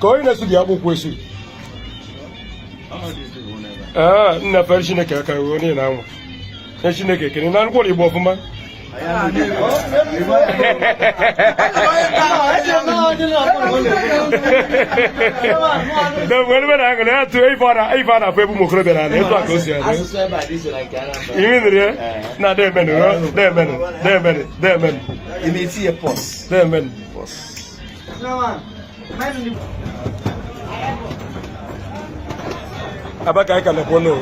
ka onye na-esi dị akpụkwụ esi ee nna fere chineke aka ruo onye na anwa nye chineke ekene na ngwụrụ igbo ọfụma mgbe na aṅụ na ya tụ ife a na-afụ ebe ụmụ okorobịa nọ etu a ka o si adị imi nri ya na demenụ demenụ demenụ demenụ demenụ aba ka anyị ka nọkwa n'o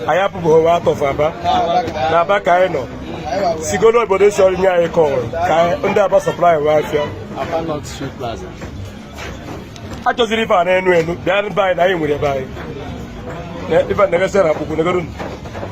anyị apụbeghịkwa out of aba na aba ka anyị nọ sigolo obodo si ọrụ nye anyị kọwụrụ ka ndị aba supply wee afịa a chọziri ife a na-enu enu bịa be anyị na anyị nwere ebe anyị ife na-egesị na akpụkwụ negodu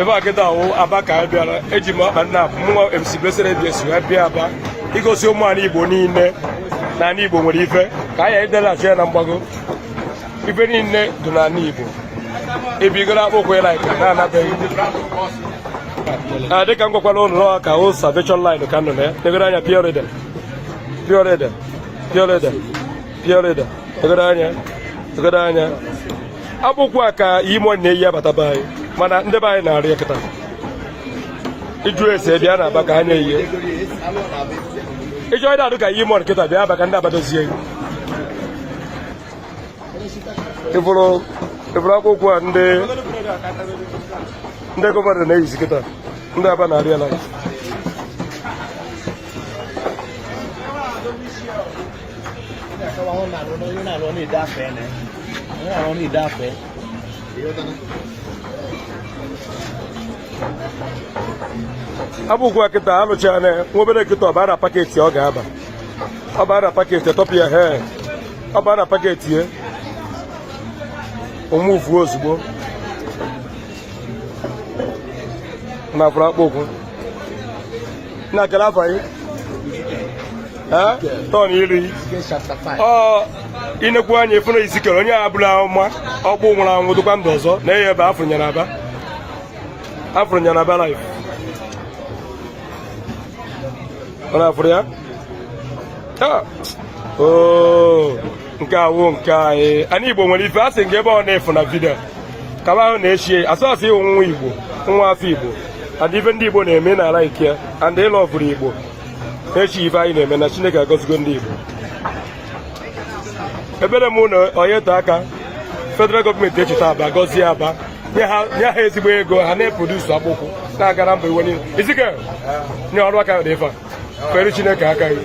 ebe a kịta awụ aba ka anyị bịara eji m akpa nna abụ mụnwa MC Blessed ABS wee bịa aba igosi ụmụ anyị Igbo niile na anyị Igbo nwere ife ka anyị edelachi ya na mgbago ife niile dị na anị Igbo ebigoro akpụkwụ ya like na-anabeghị ah, dịka m gwakwara unu n'ọha ka o salvation line ka a nọ na ya negodu anya pure leather pure leather pure leather pure leather negodu anya negodu anya akpụkwụ a ka E-Money na-eyi abata be anyị mana ndị be anyị na-arụ ya kịta ị jụọ ese bịa na aba ka ha na-eyi ị chọọ ịda adị ka E-Money kịta bịa aba ka ndị aba dozie ị fụrụ akpụkwụ a ndị ndị gọvanọ na-eyizi kịta ndị aba na-arụ ya ala akpụkwụ a kịta alụchaa na nwa obere kịta ọ baa na paketi ọ ga-aba ọ baa na paketi atọpụ ya he ọ baa na paketi ya o muvuo ozugbo na afụrụ akpụkwụ na kele afọ anyị tọn iri ọ i nekwuo anya ị fụ na Ezekiel onye amụma ọkpụkpụ nwụrụ anwụ dịkwa ndụ ọzọ na eye ebe afụrụ m ya na aba afụrụ m ya na aba live ọ na-afụrụ ya nke a wụ nke anyị anyị igbo nwere ife a sị nke ebe ọ na-efu na vidio kaba ahụ na share ya ọsọsọ ị wụ nwa igbo nwa afọ igbo and ife ndị igbo na-eme nna like ya and ị lọvụrụ igbo echi ife anyị na-eme na chineke agọzigo ndị igbo ekpere m na-ayọ taa ka federal gọọmenti echeta aba gọzie aba nye ha ezigbo ego ha na-eprodusu akpụkwụ na-agara mba ụwa niile izike nye ọrụ aka dị ife a fere chineke aka gị